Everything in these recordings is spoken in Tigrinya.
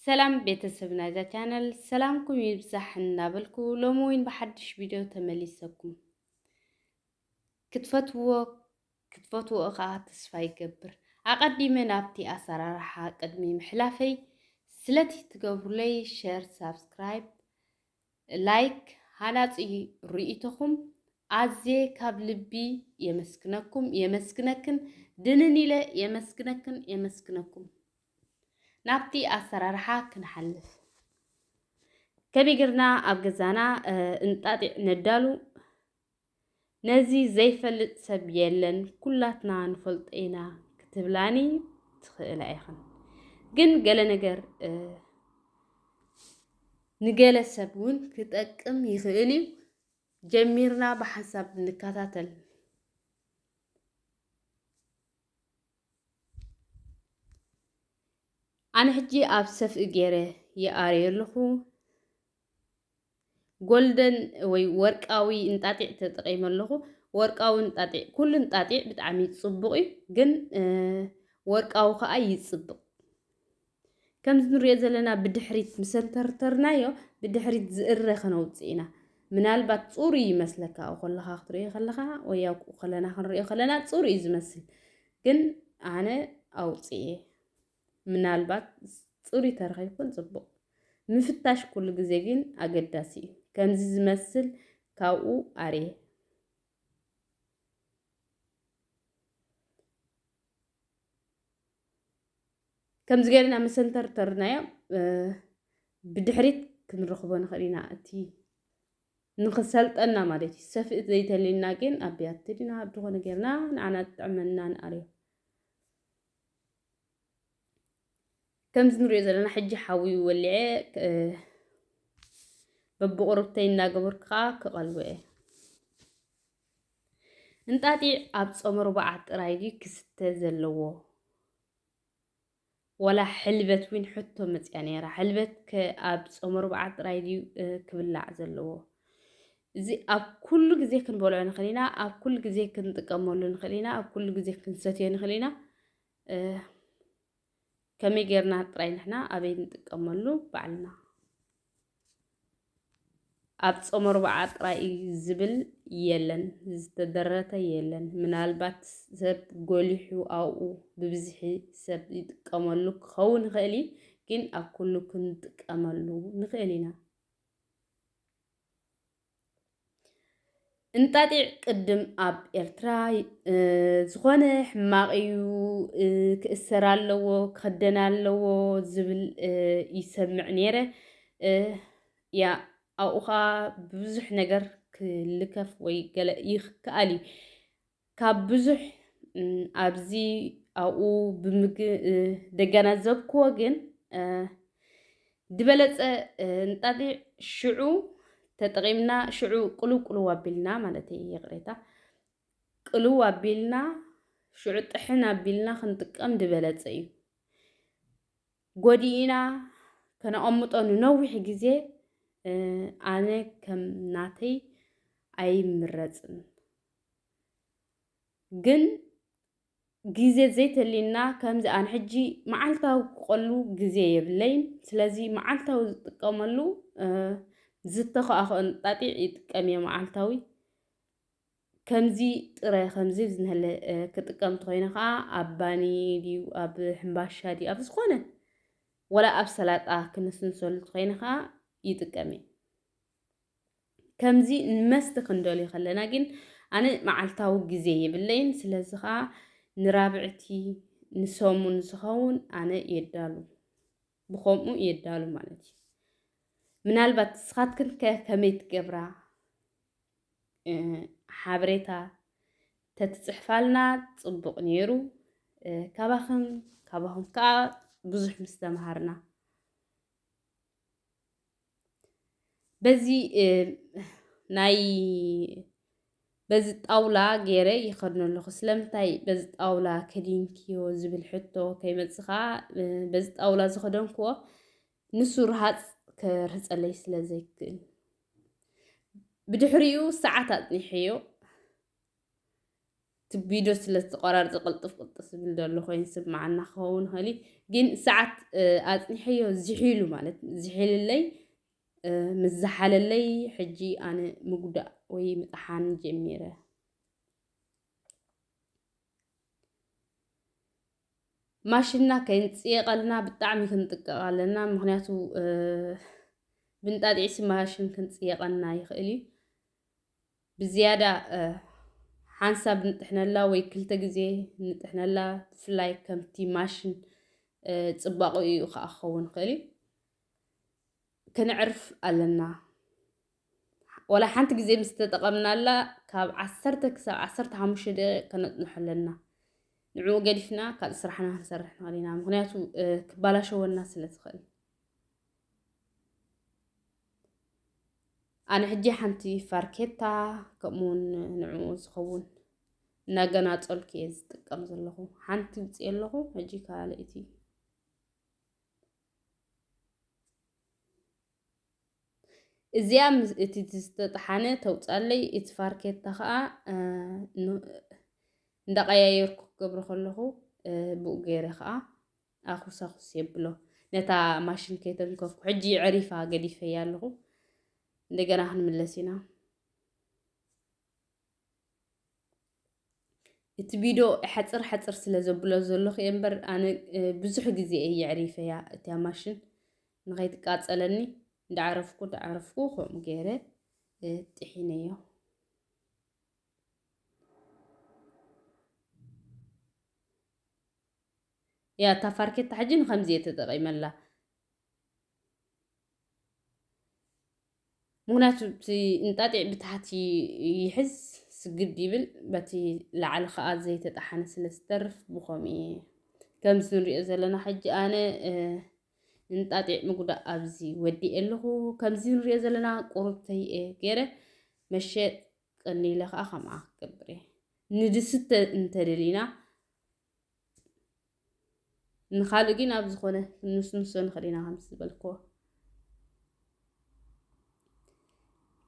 ሰላም ቤተሰብ ናይዛ ቻነል ሰላምኩም ይብዛሕ እናበልኩ ሎሚ እውን ብሓድሽ ቪድዮ ተመሊሰኩም ክትፈትዎ ክትፈትዎ ከኣ ተስፋ ይገብር። ኣቐዲመ ናብቲ ኣሰራርሓ ቅድሚ ምሕላፈይ ስለቲ ትገብሩለይ ሸር ሳብስክራይብ ላይክ ሃናጺ ርእይቶኹም ኣዝየ ካብ ልቢ የመስግነኩም የመስግነክን ድንን ኢለ የመስግነክን የመስግነኩም። ናብቲ ኣሰራርሓ ክንሓልፍ ከመይ ጌርና ኣብ ገዛና እንጣጢዕ ነዳሉ ነዚ ዘይፈልጥ ሰብ የለን ኩላትና ንፈልጦ ኢና ክትብላኒ ትኽእላ ኢኽን ግን ገለ ነገር ንገለ ሰብ እውን ክጠቅም ይኽእል እዩ። ጀሚርና ብሓንሳብ ንከታተል። ኣነ ሕጂ ኣብ ሰፍኢ ገይረ ይኣርዮ ኣለኹ። ጎልደን ወይ ወርቃዊ እንጣጢዕ ተጠቂመ ኣለኹ ወርቃዊ እንጣጢዕ ኩሉ እንጣጢዕ ብጣዕሚ ጽቡቕ እዩ ግን ወርቃዊ ከዓ ይጽብቕ ከምዚ ንሪኦ ዘለና ብድሕሪት ምሰንተርተርናዮ ብድሕሪት ዝእረ ከነውፅእ ኢና ምናልባት ፅሩ ይመስለካ ኣብኡ ከለኻ ክትሪኦ ከለኻ ወይ ኣብኡ ከለና ክንሪኦ ከለና ፅሩ እዩ ዝመስል ግን ኣነ ኣውፅኤ ምናልባት ጽሩይ ተረኺብኩን ጽቡቕ። ምፍታሽ ኩሉ ግዜ ግን ኣገዳሲ እዩ። ከምዚ ዝመስል ካብኡ ኣርየ። ከምዚ ገይርና ምስ ሰንተርተርናዮ ብድሕሪት ክንረኽቦ ንኽእል ኢና እቲ ንኽሰልጠና ማለት እዩ ሰፍእት ዘይተልዩና ግን ኣብ ቢያቲ ድና ድኾነ ገይርና ንዓና ዝጥዕመና ንኣርዮ ከምዚ ንሪኦ ዘለና ሕጂ ሓዊ ወሊዐ በብቑርብተይ እናገበርኩ ከዓ ክቐልቦ እየ። እንጣጢዕ ኣብ ፆመ ርቡዓት ጥራይ ድዩ ክስተ ዘለዎ ወላ ሕልበት እውን ሕቶ መፅያ ነይራ። ሕልበት ኣብ ፆመ ርቡዓት ጥራይ ድዩ ክብላዕ ዘለዎ? እዚ ኣብ ኩሉ ግዜ ክንበልዖ ንኽእል ኢና፣ ኣብ ኩሉ ግዜ ክንጥቀመሉ ንኽእል ኢና፣ ኣብ ኩሉ ግዜ ክንሰትዮ ንኽእል ኢና። ከመይ ጌርና ጥራይ ንሕና ኣበይ ንጥቀመሉ ባዕልና ኣብ ጾመ ርብዓ ጥራይ እዩ ዝብል የለን፣ ዝተደረተ የለን። ምናልባት ሰብ ጎሊሑ ኣብኡ ብብዝሒ ሰብ ይጥቀመሉ ክኸውን ይኽእል እዩ፣ ግን ኣብ ኩሉ ክንጥቀመሉ ንኽእል ኢና። እንጣጢዕ ቅድም ኣብ ኤርትራ ዝኾነ ሕማቕ እዩ ክእሰር ኣለዎ ክኽደን ኣለዎ ዝብል ይሰምዕ ነይረ ያ ኣብኡ ከዓ ብብዙሕ ነገር ክልከፍ ወይ ገለ ይከኣል እዩ ካብ ብዙሕ ኣብዚ ኣብኡ ብምግ ደገናዘብክዎ ግን ዝበለፀ እንጣጢዕ ሽዑ ተጠቒምና ሽዑ ቅልው ቅልው ኣቢልና ማለት እዩ ይቕሬታ ቅልው ኣቢልና ሽዑ ጥሕን ኣቢልና ክንጥቀም ዝበለፀ እዩ ጎዲእና ከነቐምጦ ንነዊሕ ግዜ ኣነ ከም ናተይ ኣይምረፅን ግን ግዜ ዘይተልዩና ከምዚ ኣን ሕጂ መዓልታዊ ክቆሉ ግዜ የብለይን ስለዚ መዓልታዊ ዝጥቀመሉ ዝተኸኣኸኦን ጣጢዕ ይጥቀም እየ መዓልታዊ ከምዚ ጥረ ከምዚ ዝንህለ ክጥቀም ተኮይነ ከዓ ኣብ ባኒ ድዩ ኣብ ሕምባሻ ድዩ ኣብ ዝኾነ ወላ ኣብ ሰላጣ ክንስንሰሉ ተኮይነ ከዓ ይጥቀም እየ ከምዚ ንመስተ ክንደልዮ ከለና ግን ኣነ መዓልታዊ ግዜ የብለይን። ስለዚ ከዓ ንራብዕቲ ንሰሙን ዝኸውን ኣነ የዳሉ ብከምኡ የዳሉ ማለት እዩ። ምናልባት ንስኻትክን ከ ከመይ ትገብራ ሓበሬታ ተትፅሕፋልና ፅቡቕ ነይሩ። ካባኽን ካባኹም ከዓ ብዙሕ ምስ ተምሃርና በዚ ናይ በዚ ጣውላ ገይረ ይኸድኖ ኣለኹ ስለምንታይ በዚ ጣውላ ከዲንክዮ ዝብል ሕቶ ከይመጽኻ በዚ ጣውላ ዝኸደንክዎ ንሱ ረሃፅ ክርህፀለይ ስለ ዘይክእል ብድሕሪኡ ሰዓት ኣፅኒሐዮ እቲ ቪድዮ ስለ ዝተቆራርፀ ቅልጥፍ ቅልጥፍ ዝብል ዘሎ ኮይኑ ስማዓና ክኸውን ይኽእል እዩ ግን ሰዓት ኣፅኒሐዮ ዝሒሉ ማለት ዝሒልለይ ምስ ዝሓለለይ ሕጂ ኣነ ምጉዳእ ወይ ምጥሓን ጀሚረ ማሽና ከይንፅየቐልና ብጣዕሚ ክንጥቀቕ ኣለና ምክንያቱ ብንጣጢዕሲ ማሽን ክንፅየቐና ይኽእል እዩ ብዝያዳ ሓንሳብ ንጥሕነላ ወይ ክልተ ግዜ ንጥሕነላ ብፍላይ ከምቲ ማሽን ጽባቕኡ እዩ ከኣ ክኸውን ይኽእል እዩ ከነዕርፍ ኣለና ወላ ሓንቲ ግዜ ምስ ተጠቐምናላ ካብ ዓሰርተ ክሳብ ዓሰርተ ሓሙሽተ ደቂቕ ከነጽንሖ ኣለና ንዕኡ ገዲፍና ካልእ ስራሕና ክንሰርሕ ንኽእል ኢና ምክንያቱ ክባላሸወና ስለ ዝኽእል ኣነ ሕጂ ሓንቲ ፋርኬታ ከምኡውን ንዕኡ ዝኸውን እናገናፀልኩ እየ ዝጥቀም ዘለኹ ሓንቲ ውፅእ ኣለኹ ሕጂ ካልእቲ እዚያ እቲ ዝተጠሓነ ተውፃለይ እቲ ፋርኬታ ከዓ እንዳቀያየርኩ ክገብሮ ከለኹ ብኡ ገይረ ከዓ ኣኹሳኹስ የብሎ ነታ ማሽን ከይተንከፍኩ ሕጂ ዕሪፋ ገዲፈያ ኣለኹ እንደገና ክንምለስ ኢና እቲ ቪድዮ ሓፅር ሓፅር ስለ ዘብሎ ዘለኹ እየ እምበር ኣነ ብዙሕ ግዜ እየ የዕሪፈያ እቲያ ማሽን ንኸይትቃፀለኒ እንዳዓረፍኩ እንዳዓረፍኩ ከምኡ ገይረ ጥሒነዮ እያ እታ ፋርኬታ ሕጂ ንከምዚ እየ ተጠቂመላ ምክንያቱ እቲ እንጣጢዕ ብታሕቲ ይሕዝ ስግድ ይብል በቲ ላዕሊ ከዓ ዘይተጣሓነ ስለ ዝተርፍ ብከምኡ እየ ከምዚ ንሪኦ ዘለና ሕጂ ኣነ እንጣጢዕ ምጉዳእ ኣብዚ ወዲእ ኣለኹ ከምዚ ንሪኦ ዘለና ቁርብተይ እየ ገይረ መሸጥ ቀኒለ ከዓ ከምኣ ክገብር እየ ንድስተ እንተደሊና ንኻልእ ግን ኣብ ዝኾነ ክንስንሶ ንኽእል ኢና ከምዚ ዝበልክዎ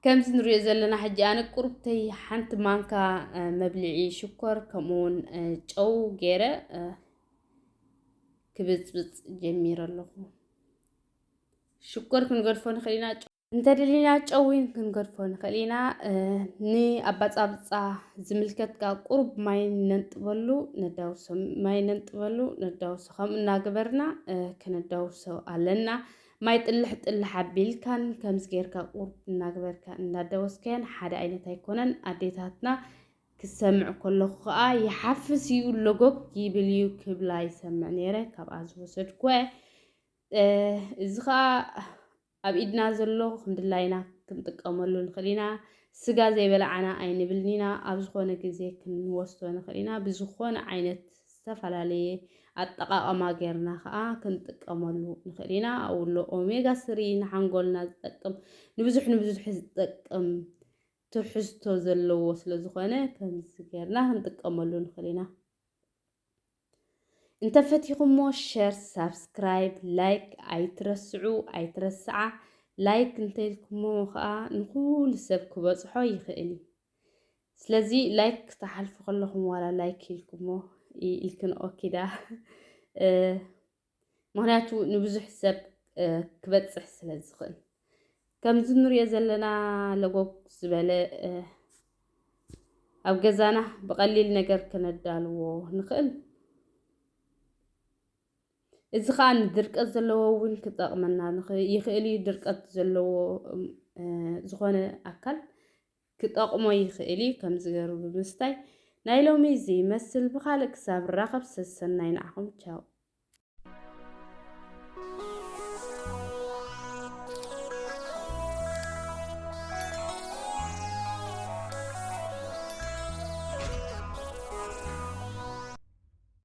ከምዚ ንሪኦ ዘለና ሕጂ ኣነ ቁርብተይ ሓንቲ ማንካ መብልዒ ሽኮር ከምኡውን ጨው ገይረ ክብፅብፅ ጀሚረ ኣለኹ ሽኮር ክንገድፎ ንኽእል ኢና እንተደሊና ጨው እውን ክንገድፎ ንኽእል ኢና። ንኣባፃብፃ ዝምልከት ከዓ ቁሩብ ማይ ነንጥበሉ ነዳውሶ ማይ ነንጥበሉ ነዳውሶ ከምኡ እናገበርና ክነዳውሶ ኣለና። ማይ ጥልሕ ጥልሕ ኣቢልካን ከምዚ ጌርካ ቁሩብ እናገበርካ እንዳዳወስካያን ሓደ ዓይነት ኣይኮነን። ኣዴታትና ክሰምዕ ከለኹ ከዓ ይሓፍስ እዩ ሎጎግ ይብል እዩ ክብላ ይሰምዕ ነይረ ካብኣ ዝወሰድኩ እዚ ከዓ ኣብ ኢድና ዘሎ ከምድላይና ክንጥቀመሉ ንኽእል ኢና። ስጋ ዘይበላዓና ኣይንብልን ኢና። ኣብ ዝኾነ ግዜ ክንወስዶ ንኽእል ኢና። ብዝኾነ ዓይነት ዝተፈላለየ ኣጠቓቕማ ጌርና ከኣ ክንጥቀመሉ ንኽእል ኢና። ኣብኡ ኣሎ ኦሜጋ ስሪ ንሓንጎልና ዝጠቅም ንብዙሕ ንብዙሕ ዝጠቅም ትሕዝቶ ዘለዎ ስለዝኾነ ከምዚ ጌርና ክንጥቀመሉ ንኽእል ኢና። እንተፈቲኹሞ ሸር ሳብስክራይብ ላይክ ኣይትረስዑ ኣይትረስዓ ላይክ እንተልኩሞ ከዓ ንኩሉ ሰብ ክበፅሖ ይኽእል እዩ ስለዚ ላይክ ክተሓልፉ ከለኹም ዋላ ላይክ ኢልኩሞ ኢልክን ኦኪዳ ምክንያቱ ንብዙሕ ሰብ ክበፅሕ ስለ ዝኽእል ከምዚ ንሪኦ ዘለና ለጎግ ዝበለ ኣብ ገዛና ብቐሊል ነገር ክነዳልዎ ንኽእል። እዚ ከዓ ንድርቀት ዘለዎ እውን ክጠቕመና ይኽእል እዩ። ድርቀት ዘለዎ ዝኾነ ኣካል ክጠቕሞ ይኽእል እዩ ከምዚ ገሩ ብምስታይ። ናይ ሎሚ እዚ ይመስል ብኻልእ ክሳብ ንራኸብ ሰሰናዩ ንዓኹም ቻው።